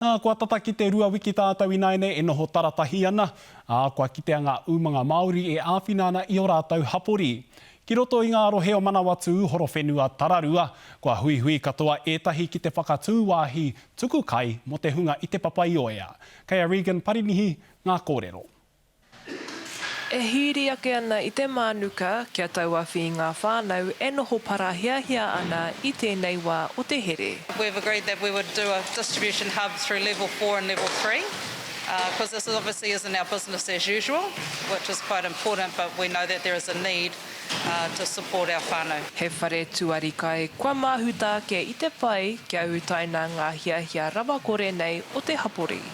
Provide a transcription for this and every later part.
Ā, kua tata ki te rua wiki tātou ināianei e noho taratahi ana, ā, kua kitea ngā umanga Māori e āwhina ana i ō rātou hapori. Ki roto i ngā rohe o Manawatū, Horowhenua, Tararua, kua huihui katoa ētahi ki te whakatū wāhi tuku kai mō te hunga i Te Papaioea. Kei a Regan Parinihi ngā kōrero. E hīri ake ana i te mānuka kia tauawhi i ngā whānau e noho parahiahia ana i tēnei wā o te here. We've agreed that we would do a distribution hub through level four and level three, because this obviously isn't our business as usual, which is quite important, but we know that there is a need to support our whānau. He whare tuari kai kua māhuta ake i te whai kia utaina ngā hiahia rawakore nei o te hapori.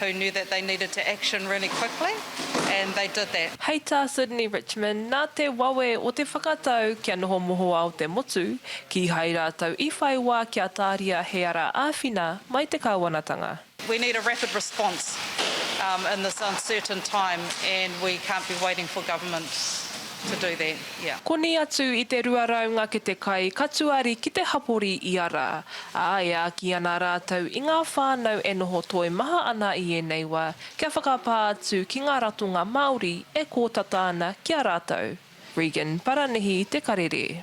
who knew that they needed to action really quickly and they did that. Hei tā Sydney Richmond, nā te wawe o te whakatau kia noho mohoao te motu, kīhai rātou i whai wā kia tāria he ara āwhina mai te kāwanatanga. We need a rapid response in this uncertain time and we can't be waiting for government to do that. Koni atu i te rua rau ngakete kai ka tuari ki te hapori ia rā. ā, e āki ana rātou i ngā whānau e noho toimaha ana i ēnei wā kia whakapā atu ki ngā ratonga Māori e kōtata ana ki a rātou. Regan Paranihi, Te Karere.